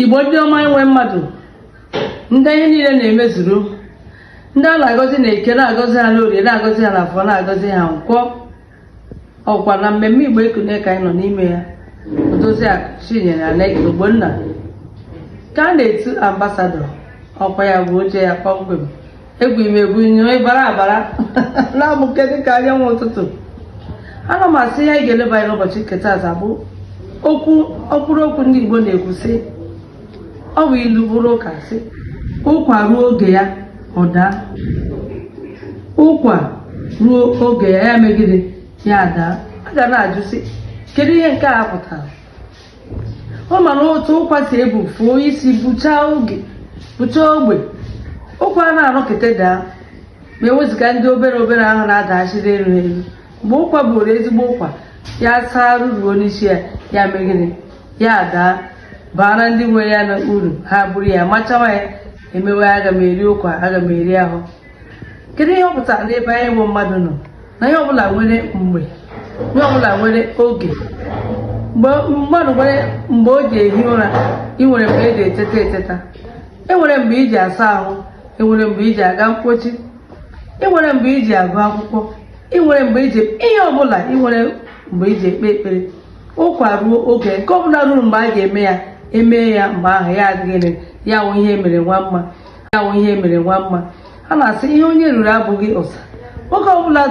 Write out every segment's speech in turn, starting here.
igbo ndị ọma enwe mmadụ ndị ihe niile na-emezuru ndị a na-agọzi n'eke na-agọzi ha n'orie na-agọzi ha n'afọ na-agọzi ha nkwọ ọkwa na mmemme igbo ekunie ka anyị nọ n'ime ya odozi akụ chinyere aleke ogbonna ka a na-etu ambasadọ ọkwa ya bụ oche ya kpọmkwem egwu ime egwu nyo ịbara abara na-amụke dịka anyanwụ ụtụtụ ana m asị ihe anyị ga-eleba anya n'ụbọchị nke taata bụ okwu ọkwụrụ okwu ndị Igbo na-ekwu sị ọ bụ ilu bụrụ ụka sị ụkwa ruo oge ya ọ daa ụkwa ruo oge ya ya mee gịrị ya daa a ga na-ajụ sị kedu ihe nke a pụtara ọ ma na otu ụkwa si ebu fuo isi buchaa oge buchaa ogbe ụkwa na-anọkete daa ma ewezụga ndị obere obere ahụ na-adachiri elu elu mgbe ụkwa bụrụ ezigbo ụkwa ya saa ruruo n'isi ya ya mee gịrị ya daa baara ndị nwe ya uru ha buru ya machawa ya e mewe aga m eri ụkwa aga m eri ahụ kedu ihe ọ pụtara n'ebe anyị bụ mmadụ nọ na ihe ọbụla nwere mgbe ihe ọbụla nwere oge mmadụ nwere mgbe o ji ehi ụra ị nwere mgbe e ji eteta eteta e nwere mgbe i ji asa ahụ e nwere mgbe i ji aga mkpochi e nwere mgbe i ji agụ akwụkwọ ị nwere mgbe i ji ihe ọbụla ị nwere mgbe i ji ekpe ekpere ụkwa ruo oge nke ọbụla ruru mgbe a ga-eme ya e mee ya mgbe ahụ ya adịghị ya wụ ihe mere nwa mma ya wụ ihe mere nwa mma a na-asị ihe onye ruru abụghị ụsa nwoke ọbụla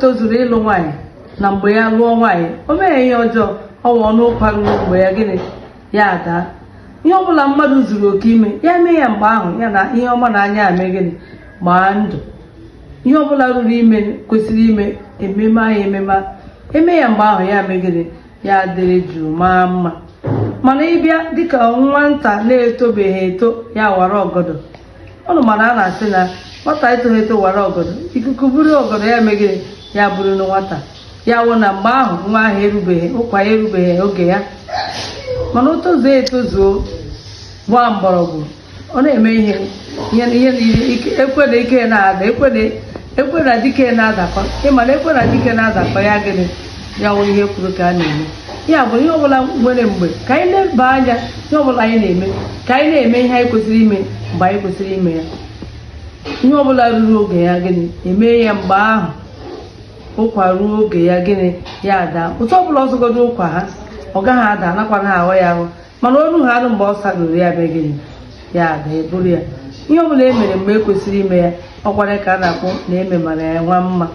tozuru ịlụ nwaanyị na mgbe ya lụọ nwaanyị o meghị ihe ọjọọ ọ wụnụ ụkwa ruru mgbe ya gịnị ya adaa ihe ọbụla mmadụ zuru oke ime ya mee ya mgbe ahụ ya na ihe ọma n'anya ya mee gịnị gbaa ndụ ihe ọbụla ruru ime kwesịrị ime ememe anyị ememe e mee ya mgbe ahụ ya mee gịnị ya dịrị jụụ maa mma mana ị bịa dịka nwa nta na-etobeghị eto ya wara ọgọdọ unu ma na a na-asị na nwata etoghị eto wara ọgọdọ ikuku buru ọgọdọ ya mee gịrị ya burunu nwata ya wụ na mgbe ahụ nwa ahụ erubeghị ụkwa ahụ erubeghị oge ya mana o tozuo etozuo gbaa mgbọrọgwụ ọ na-eme ihe ihe na ihe niile ike ekwe na ike na-ada ekwe na ekwe na dike na-adakọ ịma na ekwe na dike na-adakọ ya gịnị ya wụ ihe e kwuru ka a na-eme ya bụ ihe ọbụla nwere mgbe ka anyị na-eleba anya ihe ọbụla anyị na-eme ka anyị na-eme ihe anyị kwesịrị ime mgbe anyị kwesịrị ime ya ihe ọbụla ruru oge ya gịnị e mee ya mgbe ahụ ụkwa ruo oge ya gịnị ya adaa otu ọbụla ọ sọgodu ụkwa ha ọ gaghị ada anakwana ahụ ya ahụ mana o rughị arụ mgbe ọ sarụrụ ya mee gịnị ya adaa e buru ya ihe ọ bụla e mere mgbe e kwesịrị ime ya ọ kwara ka a na-akpọ na eme mara ya nwa mma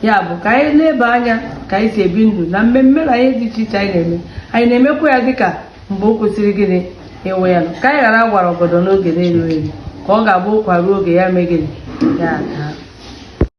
ya bụ ka anyị nebe anya ka anyị si ebi ndụ na mmemme na ihe dị iche iche anyị na-eme anyị na-emekwa ya dịka mgbe o kwesịrị gịnị ịwụ ya nọ ka anyị ghara wara ọgọdọ n'oge na-erughị eru ka ọ ga-abụ ụkwa ruo oge ya mee gịnị ya adaa